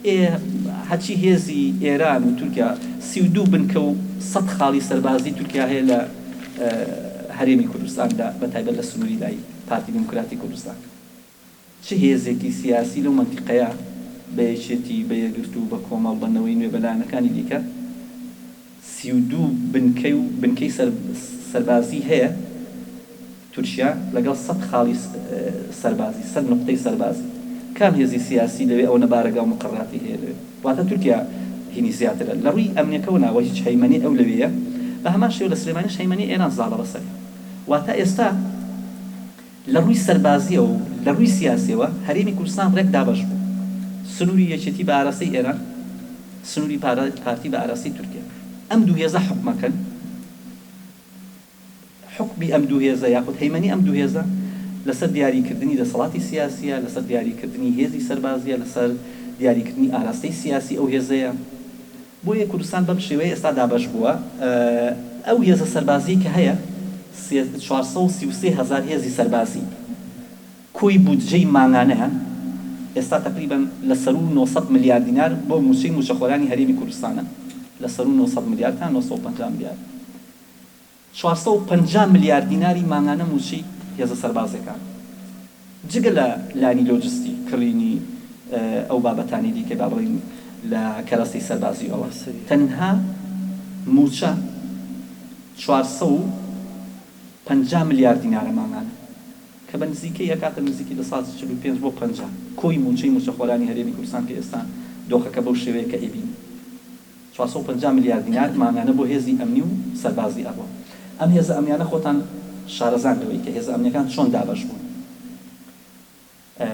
ئێ هەرچی هێزی ئێران و تورکیا سی و دوو بنکە و سەد خاڵی سەربازی تورکیا هەیە لە هەرێمی کوردستان دا بە تایبەت لە سنووری دای پارتی دیموکراتی کوردستان چ هێزێکی سیاسی لەو مەنتیقەیە بە یەکێتی، بە یەکگرتوو، بە کۆمەڵ، بە نەوەی نوێ، بە لایەنەکانی دیکە سی و دوو بنکەی و بنکەی سەربازی هەیە؟ تورکیا لەگەڵ سەد خاڵی سەربازی، سەد نوقتەی سەربازی، کام هێزی سیاسی لەوێ ئەوەنە بارەگا و مقەڕاتی هەیە لەوێ؟ واتە تورکیا هینی زیاترە. لە رووی ئەمنیەکەوە نا، وە هیچ هەیمەنەی ئەو لەوێیە. بە هەمان شێوە لە سلێمانیش هەیمەنەی ئێران زاڵە بەسەر. واتە ئێستا. لە ڕووی سەربازییەوە و لە ڕووی سیاسییەوە هەرێمی کوردستان ڕێک دابەش بوو، سنووری یەکێتی بە ئاراستەی ئێران، سنووری پارتی بە ئاراستەی تورکیا. ئەم دوو هێزە حوکمەکەن، حوکمی ئەم دوو هێزە یاخود هەیمەنی ئەم دوو هێزە لەسەر دیاریکردنی دەسەڵاتی سیاسییە، لەسەر دیاریکردنی هێزی سەربازییە، لەسەر دیاریکردنی ئاراستەی سیاسی ئەو هێزەیە. بۆیە کوردستان بەم شێوەیە ئێستا دابەش بووە. ئەو هێزە سەربازیەی کە هەیە سێ چوار سەد و سی و سێ هەزار هێزی سەربازی کۆی بودجەی مانگانەیان ئێستا تەقریبەن لە سەروو نۆ سەد ملیار دینار بۆ مووچەی مووچەخۆرانی هەرێمی کوردستانە لە سەروو نۆ سەد ملیار تا نۆ سەد و پەنجا ملیار چوار سەد و پەنجا ملیار دیناری مانگانە مووچەی هێزە سەربازییەکان، جگە لە لانی لۆجستی، کڕینی ئەو بابەتانەی دیکەی با بڵێین لە کەرەستەی سەربازییەوە، تەنها مووچە چوار سەد و پەنجا ملیار دینارە مانگانە، کە بە نزیکەی ئەکاتە نزیکی لە سەد و چل و پێنج بۆ پەنجا کۆی مووچەی مووچەخۆرانی هەرێمی کوردستان کە ئێستا دۆخەکە بەو شێوەیە کە ئەیبینین. چوار سەد و پەنجا ملیار دینار مانگانە بۆ هێزی ئەمنی و سەربازی ئەڕوا. ئەم هێزە ئەمنیانە خۆتان شارەزان لەوەی کە هێزە ئەمنیەکان چۆن دابەش بوون. ئە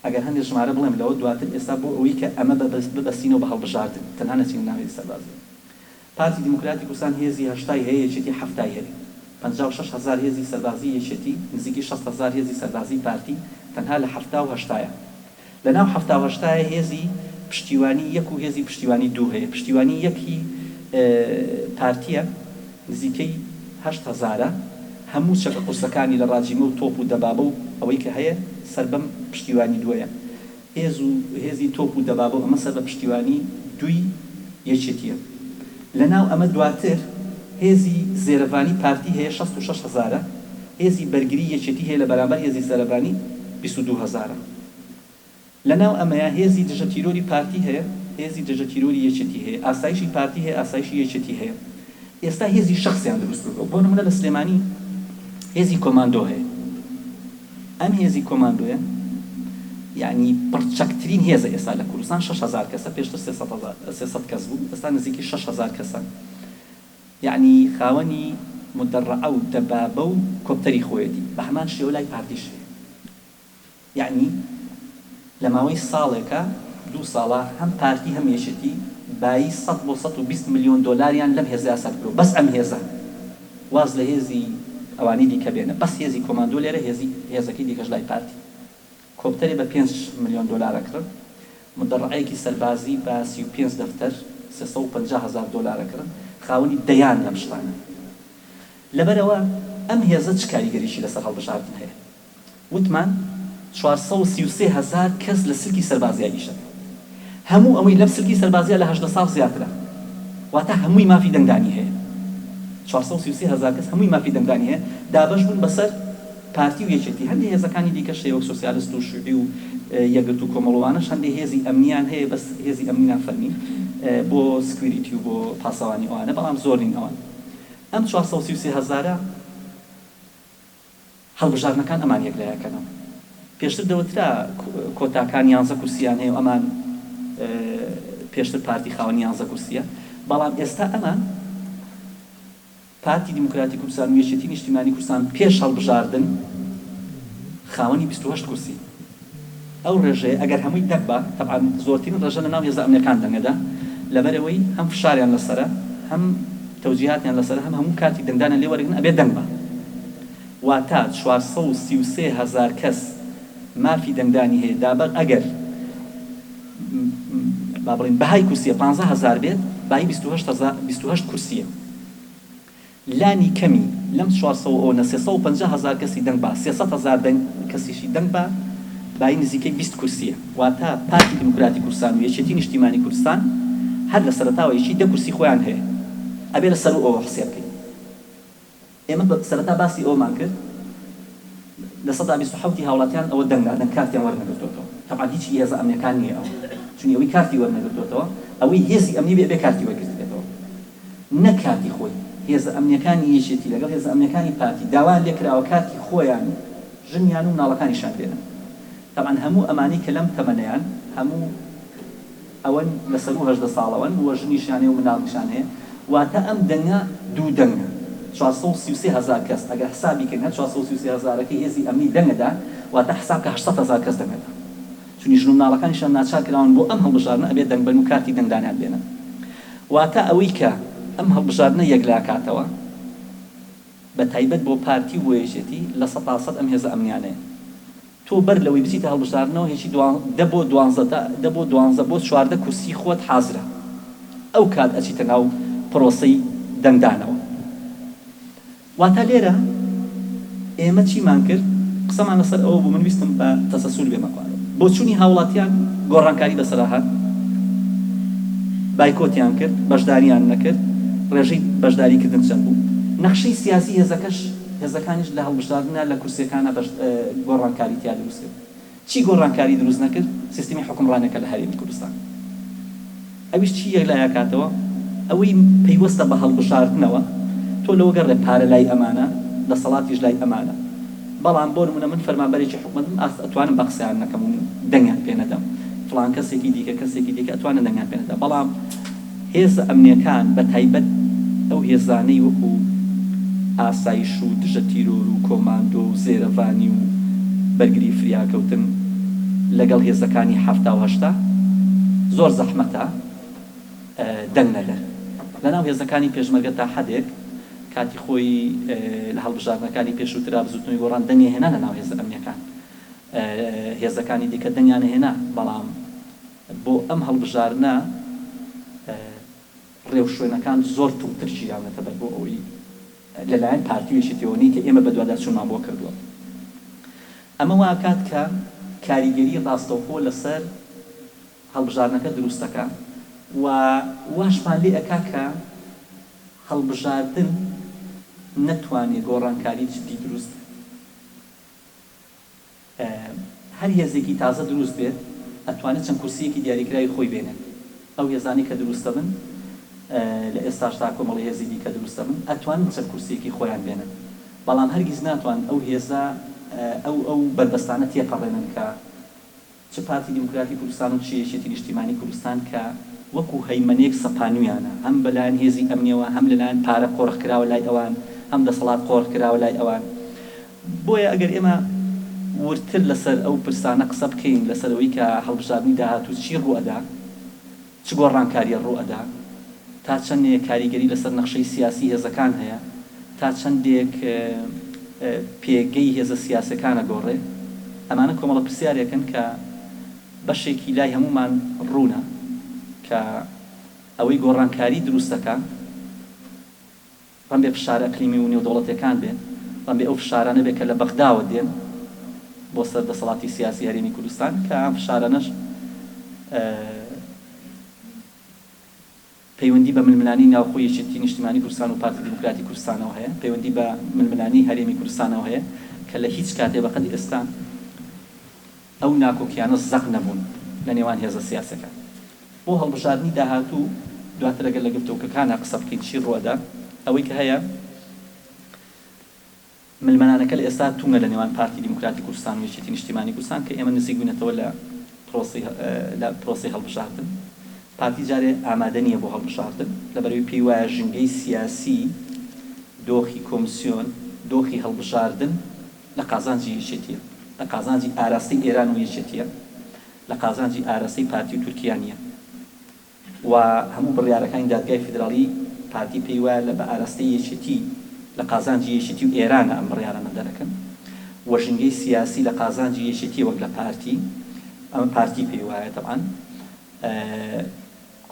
ئەگەر هەندێ ژمارە بڵێم لەوە دواتر ئێستا بۆ ئەوەی کە ئەمە بە بە ببەستینەوە بە هەڵبژاردن تەنها نەچینە ناو هێزی سەربازی. پارتی دیموکراتی کوردستان هێزی هەشتای هەیە یەکێتی حەفتای هەیە. پەنجا و شەش هەزار هێزی سەربازی یەکێتی نزیکی شەست هەزار هێزی سەربازی پارتی تەنها لە حەفتا و هەشتایە. لە ناو حەفتاو هەشتایە هێزی پشتیوانی یەک و هێزی پشتیوانی دوو هەیە پشتیوانی یەک هی پارتیە نزیکەی هەشت هەزارە هەموو چەکە قورسەکانی لە ڕاجیمە و تۆپ و دەبابە و ئەوەی کە هەیە سەر بەم پشتیوانی دووەیە هێز و هێزی تۆپ و دەبابە و ئەمە سەر بە پشتیوانی دووی یەکێتیە. لەناو ئەمە دواتر هێزی زێرەڤانی پارتی هەیە شەست و شەش هەزارە، هێزی بەرگری یەکێتی هەیە لەبەرامبەر هێزی زێرەڤانی بیست و دوو هەزارە. لەناو ئەمەیا هێزی دژە تیرۆری پارتی هەیە، هێزی دژە تیرۆری یەکێتی هەیە، ئاسایشی پارتی هەیە، ئاسایشی یەکێتی هەیە. ئێستا هێزی شەخسیان دروست کردووە. بۆ نموونە لە سلێمانی هێزی کۆماندۆ هەیە. ئەم هێزی کۆماندۆیە یانی پڕچەکترین هێزە ئێستا لە کوردستان شەش هەزار کەسە پێشتر سێ سەد هەزار سێ سەد کەس بوو ئێستا نزیکی شەش هەزار کەسە یانی خاوەنی مدەڕعە و دەبابە و کۆپتەری خۆیەتی بە هەمان شێوە لای پارتیش هەیە یانی لە ماوەی ساڵێکە، دوو ساڵە، هەم پارتی هەم یەکێتی بایی سەد بۆ سەد و بیست ملیۆن دۆلاریان لەم هێزە یاسا کردووە بەس ئەم هێزە واز لە هێزی ئەوانی دیکە بێنە بەس هێزی کۆماندۆ لێرە هێزی هێزەکەی دیکەش لای پارتی کۆپتەرێ بە پێنج ملیۆن دۆلار ئەکڕن مدەڕەعەیەکی سەربازی بە سی و پێنج دەفتەر سێ سەد و پەنجا هەزار دۆلار ئەکڕن خاوەنی دەیان لەم شتانەن لەبەرئەوە ئەم هێزە چ کاریگەریی لەسەر هەڵبژاردن هەیە؟ وتمان چوار سەد و سی و سێ هەزار کەس لە سلکی سەربازییا نیشتەجێ بوون. هەموو ئەوەی لەم سلکی سەربازییا لە هەژدە ساڵ زیاترە. واتە هەمووی مافی دەنگدانی هەیە. چوار سەد و سی و سێ هەزار کەس هەمووی مافی دەنگدانی هەیە. دابەش بوون بەسەر پارتی و یەکێتی. هەندێ هێزەکانی دیکەش هەیە وەک سۆسیالست و شیوعی و یەکگرتوو و کۆمەڵ و ئەوانەش هەندێ هێزی ئەمنییان هەیە بەس هێزی ئەمنی نافەرمین بۆ سکویریتی و بۆ پاسەوانی و ئەوانە بەڵام زۆر نین ئەوان. ئەم چوار سەد و سی و سێ هەزارە. هەڵبژاردنەکان ئەمان یەک لە یەکەنەوە. پێشتر دەوترا کۆتاکان یانزە کورسییان هەیە و ئەمان پێشتر پارتی خاوەنی یانزە کورسییە، بەڵام ئێستا ئەمان، پارتی دیموکراتی کوردستان و یەکێتی نیشتیمانی کوردستان پێش هەڵبژاردن خاوەنی بیست و هەشت کورسین. ئەو ڕێژەیە ئەگەر هەمووی دەق با، تەبعەن زۆرترین ڕێژە لە ناو هێزە ئەمنیەکان دەنگەدان، لەبەرئەوەی هەم فشاریان لەسەرە، هەم تەوجیهاتیان لەسەرە، هەم هەموو کاتیک دەنگدانیان لێ وەرگرن ئەبێ دەنگ بان. واتا چوار سەد و سی و سێ هەزار کەس مافی دەنگدانی هەیە، دابەغ ئەگەر با بڵێین بەهای کورسیە پانزە هەزار بێت، بایی بیست و هەشت هەزار بیست و هەشت کورسیە. لانی کەمی لەم چوار سەو ئەوە نە سێ سەو و پەنجا هەزار کەسی دەنگ با سێ سەد هەزار دەنگ کەسیشی دەنگ با بایی نزیکەی بیست کورسیە واتا پارتی دیموکراتی کوردستان و یەکێتی نیشتیمانی کوردستان هەر لە سەرەتاوە یەکی دە کورسی خۆیان هەیە ئەبێ لە سەروو ئەوە حسێب کەین ئێمە بە سەرەتا باسی ئەوەمان کرد لە سەدا بیست و حەوتی هاوڵاتیان ئەوە دەنگ دادەن کارتیان وەر نەگرتۆتەوە تەبعەن هیچ ی هێزە ئەمنێکان نیە ئەوە چونی ئەوی کارتی وەر نەگرتۆتەوە ئەوەی هێزی ئەمنی بێ ئەبێ کارتی وەر گرتبێتەوە نەک کارتی خۆی، هێزە ئەمنییەکانی یەکێتی لەگەڵ هێزە ئەمنییەکانی پارتی داوایان لێکراوە کارتی خۆیان و ژنیان و مناڵەکانیشیان بێنن. تەبعەن هەموو ئەمانەی کە لەم تەمەنەیان هەموو ئەوەن لە سەروو هەژدە ساڵەوەن و ژنیشیان هەیە و مناڵیشان هەیە واتە ئەم دەنگە دوو دەنگە چوار سەد و سی و سێ هەزار کەس ئەگەر حسابی کەین هەر چوار سەد و سی و سێ هەزارەکەی هێزی ئەمنی دەنگ ئەدا واتە حساب کە هەشت سەد هەزار کەس دەنگ ئەدا. چونی ژن و مناڵەکانیشیان ناچار کراون بۆ ئەم هەڵبژاردنە ئەبێ دەنگ بەن و کارتی دەنگ دانیان بێنن واتا ئەوەی کە ئەم هەڵبژاردنە یەکلا کاتەوە بە تایبەت بۆ پارتی و بۆ یەکێتی لە سەتا سەد ئەم هێزە ئەمنیانەیە تۆ بەر لەوەی بچیتە هەڵبژاردنەوە هێچی دوان دە بۆ دوانزە دە دە بۆ دوانزە بۆ چواردە کورسی خۆت حازرە ئەو کات ئەچیتە ناو پرۆسەی دەنگ دانەوە واتە لێرە ئێمە چیمان کرد؟ قسەمان لەسەر ئەوە بوو، من ویستم بە تەسەسول بێمە خوارەوە. بۆچوونی هاوڵاتیان گۆڕانکاری بەسەرا هات، بایکۆتیان کرد، بەشداریان نەکرد، ڕێژەی بەشداریکردن چەند بوو؟ نەخشەی سیاسی هێزەکەش، هێزەکانیش لە هەڵبژاردنا لە کورسییەکانا گۆڕانکاری تیا دروست کرد. چی گۆڕانکاری دروست نەکرد سیستمی حوکمڕانیەکە لە هەرێمی کوردستان ئەویش چی یەکلایئەکاتەوە ئەوەی پەیوەستە بە هەڵبژاردنەوە تۆ لەوەگەڕێ پارە لای ئەمانە دەسەڵاتیش لای ئەمانە بەڵام بۆ نمونە من فەرمانبەرێکی حکومەتم ئاست ئەتوانم بە قسەیان نەکەم و دەنگیان پێ نەدەم فڵان کەسێکی دیکە کەسێکی دیکە ئەتوانن دەنگیان پێ نەدەم بەڵام هێزە ئەمنیەکان بە تایبەت ئەو هێزانەی وەکو ئاسایش و دژە تیرۆر و کۆماندۆ و زێرەڤانی و بەرگری فریاکەوتن لەگەڵ هێزەکانی حەفتا و هەشتا زۆر زەحمەتە دەنگ نەدەن لە ناو هێزەکانی پێشمەرگە تا حەدێک کاتی خۆی لە هەڵبژاردنەکانی پێشووترا بزوتنەوەی گۆڕان دەنگی هێنا لە ناو هێزە ئەمنیەکان هێزەکانی دیکە دەنگیان هێنا بەڵام بۆ ئەم هەڵبژاردنە ڕێوشوێنەکان زۆر توندتر گیراونەتە بەر بۆ ئەوەی لەلایەن پارتی و یەکێتیەوە نین کە ئێمە بەدواداچوونمان بۆ کردووە ئەمە واکات کە کاریگەری ڕاستەوخۆ لەسەر هەڵبژاردنەکە دروستەکا و واشمان لێ ئەکا کە هەڵبژاردن نەتوانێ گۆڕانکاری جدی دروست هەر هێزێکی تازە دروست بێت ئەتوانێت چەند کورسییەکی دیاریکراوی خۆی بێنێت. ئەو هێزانەی کە دروست دەبن لە ئێستاش تا کۆمەڵی هێزی دیکە دروست دەبن ئەتوانن چەند کورسییەکی خۆیان بێنن بەڵام هەرگیز ناتوانن ئەو هێزە ئەو ئەو بەربەستانە تێپەڕێنن کە چ پارتی دیموکراتی کوردستان و چ یەکێتی نیشتیمانی کوردستان کە وەکو هەیمەنەیەک سەپانویانە هەم بەلایەن هێزی ئەمنیەوە هەم لەلایەن پارە قۆرخ کراوە لای ئەوان هەم دەسەڵات قۆرخ کراوە لای ئەوان بۆیە ئەگەر ئێمە وردتر لەسەر ئەو پرسانە قسە بکەین لەسەر ئەوەی کە هەڵبژاردنی داهاتوو چی ڕووئەدا چ گۆڕانکاریە ڕوو ئەدا؟ تا چەندێک کاریگەری لەسەر نەخشەی سیاسی هێزەکان هەیە؟ تا چەندێک پێگەی هێزە سیاسەکان ئەگۆڕێ؟ ئەمانە کۆمەڵە پرسیارێکن کە بەشێکی لای هەموومان ڕوونە کە ئەوەی گۆڕانکاری دروست ئەکا، بەم بێ فشارە ئەقلیمی و نێودەوڵەتیەکان بێ، بەم بێ ئەو فشارانە بێ کە لە بەغداوە دێن بۆ سەر دەسەڵاتی سیاسی هەرێمی کوردستان کە ئەم فشارانەش پەیوەندی بە ململانی ناوخۆی یەکێتی نیشتیمانی کوردستان و پارتی دیموکراتی کوردستانەوە هەیە، پەیوەندی بە ململانی هەرێمی کوردستانەوە هەیە کە لە هیچ کاتێ بە قەدی ئێستا ئەو ناکۆکیانە زەق نەبوون لە نێوان هێزە سیاسەکان بۆ هەڵبژاردنی داهاتوو، دواتر ئەگەر لە گرتۆکەکانا قسە بکەین چی ڕووئەدا؟ ئەوەی کە هەیە ململانەکە لە ئێستا توندە لە نێوان پارتی دیموکراتی کوردستان و یەکێتی نیشتیمانی کوردستان کە ئێمە نزیک بووینەتەوە لە پرۆسەی لە پرۆسەی هەڵبژاردن پارتی جارێ ئامادە نییە بۆ هەڵبژاردن لە بەرئەوەی پێی وایە ژینگەی سیاسی دۆخی کۆمسیۆن دۆخی هەڵبژاردن لە قازانجی یەکێتیە، لە قازانجی ئاراستەی ئێران و یەکێتیە، لە قازانجی ئاراستەی پارتی و تورکیا نیە و هەموو بڕیارەکانی دادگای فیدراڵی پارتی پێی وایە لە بە ئاراستەی یەکێتی لە قازانجی یەکێتی و ئێرانە ئەم بڕیارانە دەرەکەن و ژینگەی سیاسی لە قازانجی یەکێتیە وەک لە پارتی ئەمە پارتی پێی وایە تەبعەن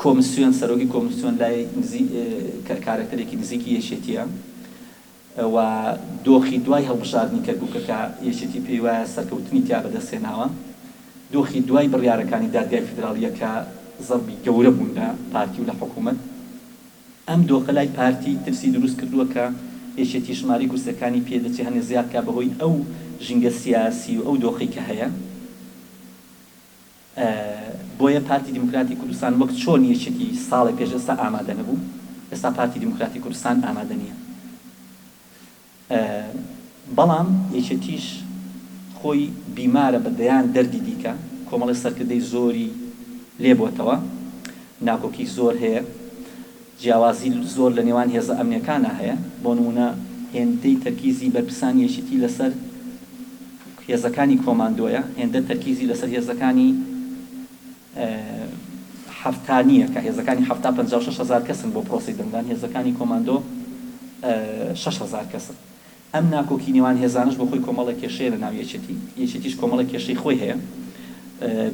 کۆمسیۆن سەرۆکی کۆمسیۆن لای نزی کارەکتەرێکی نزیکی یەکێتیە و دۆخی دوای هەڵبژاردنی کەرکووکە کە یەکێتی پێی وایە سەرکەوتنی تیا بەدەست هێناوە، دۆخی دوای بڕیارەکانی دادگای فیدراڵییە کە زەربی گەورە بوون لە پارتی و لە حکوومەت. ئەم دۆخە لای پارتی ترسی دروست کردووە کە یەکێتی ژمارەی کورسییەکانی پێ دەچێ هەنێ زیاد کا بەهۆی ئەو ژینگە سیاسی و ئەو دۆخەی کە هەیە. بۆیە پارتی دیموکراتی کوردستان وەک چۆن یەکێتی ساڵێ پێش ئێستا ئامادە نەبوو، ئێستا پارتی دیموکراتی کوردستان ئامادە نییە. بەڵام یەکێتیش خۆی بیمارە بە دەیان دەردی دیکە، کۆمەڵی سەرکردەی زۆری لێ بۆتەوە، ناکۆکی زۆر هەیە. جیاوازی زۆر لە نێوان هێزە ئەمنیەکانا هەیە، بۆ نمونە هێندەی تەرکیزی بەرپسانی یەکیتی لەسەر هێزەکانی کۆماندۆیە، هێندە تەرکیزی لەسەر هێزەکانی حەفتا نیە، کە هێزەکانی حەفتا پەنجا و شەش هەزار کەسن بۆ پرۆسەی دەنگدان، هێزەکانی کۆماندۆ شەش هەزار کەسن. ئەم ناکۆکی نێوان هێزانەش بۆ خۆی کۆمەڵێک کێشەیە لە ناو یەکێتی، یەکێتیش کۆمەڵێک کێشەی خۆی هەیە.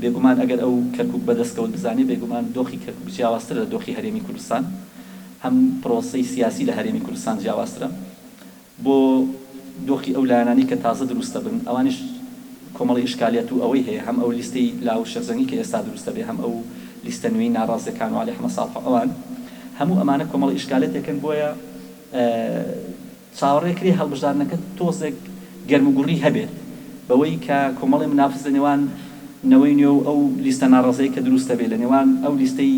بێگومان ئەگەر ئەو کەرکوک بە دەستکەوت بزانێ، بێگومان دۆخی کەرکوک جیاوازترە لە دۆخی هەرێمی کوردستان. هەم پرۆسەی سیاسی لە هەرێمی کوردستان جیاوازترە. بۆ دۆخی ئەو لایەنانەی کە تازە دروست دەبن، ئەوانیش کۆمەڵی ئیشکالیات و ئەوەی هەیە، هەم ئەو لیستەی لاو و شێخجەنگی کە ئێستا دروست دەبێ، هەم ئەو لیستە نوێی ناڕازیەکان و عەلی حەمە ساڵح و ئەوان. هەموو ئەمانە کۆمەڵە ئیشکالێتێکن بۆیە، چاوەڕێکرێ هەڵبژاردنەکە تۆزێک گەرموگوڕی هەبێت، بەوەی کە کۆمەڵی منافس لە نێوان نەوەی نوێ و ئەو لیستە ناڕەزایەی کە دروست دەبێت لە نێوان ئەو لیستەی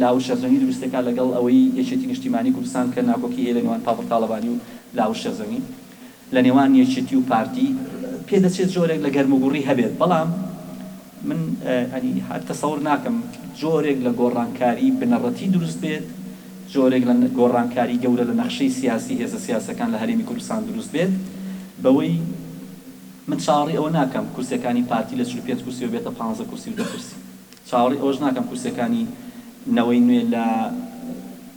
لاوش شێخجەنگی دروست دەکات لەگەڵ ئەوەی یەکێتی نیشتیمانی کوردستان کە ناکۆکی هەیە لە نێوان پاڤڵ تاڵەبانی و لاوش شێخجەنگی لە نێوان یەکێتی و پارتی، پێدەچێت جۆرێک لە گەرموگوڕی هەبێت، بەڵام. من یانی هەر تەسەور ناکەم جۆرێک لە گۆڕانکاری بنەڕەتی دروست بێت، جۆرێک لە گۆڕانکاری گەورە لە نەخشەی سیاسی هێزە سیاسەکان لە هەرێمی کوردستان دروست بێت، بەوەی من چاوەڕی ئەوە ناکەم کورسیەکانی پارتی لە چل و پێنج کورسیەوە بێتە پانزە کورسی و دە کورسی، چاوەڕی ئەوەش ناکەم کورسیەکانی نەوەی نوێ لە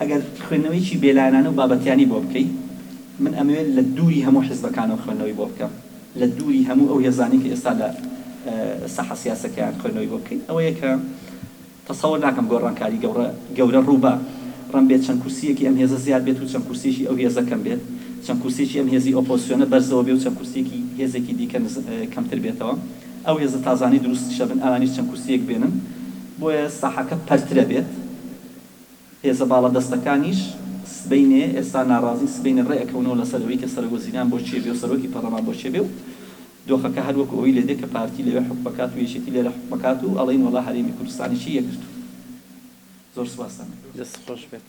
ئەگەر خوێندنەوەیەکی بێلایەنانە و بابەتیانەی بۆ بکەی، من ئەمەوێت لە دووری هەموو حیزبەکانەوە خوێندنەوەی بۆ بکەم، لە دووری هەموو ئەو هێزانەی کە ئێستا لە ساحە سیاسەکەیان خوێندنەوەی بۆ بکەین، ئەوەیە کە تەسەور ناکەم گۆڕانکاری گەوڕە گەورە ڕوو بە ڕم بێت، چەند کورسییەکی ئەم هێزە زیاد بێت و چەند کورسییەکی ئەو هێزە کەم بێت، چەند کورسییەکی ئەم هێزی ئۆپۆزسیۆنە بەرزەوە بێ و چەند کورسییەکی هێزێکی دیکە نز کەمتر بێتەوە، ئەو هێزە تازانەی دروستشە بن ئەوانیش چەند کورسییەک بێنن، بۆیە ساحەکە پەرترە بێت. هێزە باڵادەستەکانیش سبەینێ، ئێستا ناڕازین، سبەینێ ڕێئەکەونەوە لەسەر ئەوەی کە سەرۆک وەزیران بۆ کێ بێ و سەرۆکی پەرلەمان بۆ کێ بێ و دۆخەکە هەر وەکو ئەوەی لێدێ کە پارتی لەوێ حوکم ئەکات و یەکێتی لێرە حوکم ئەکات و ئەڵێن وەڵا هەرێمی کوردستانیشی یەکگرتووە. زۆر سوپاستان ئەکەم. دەست خۆش بێت.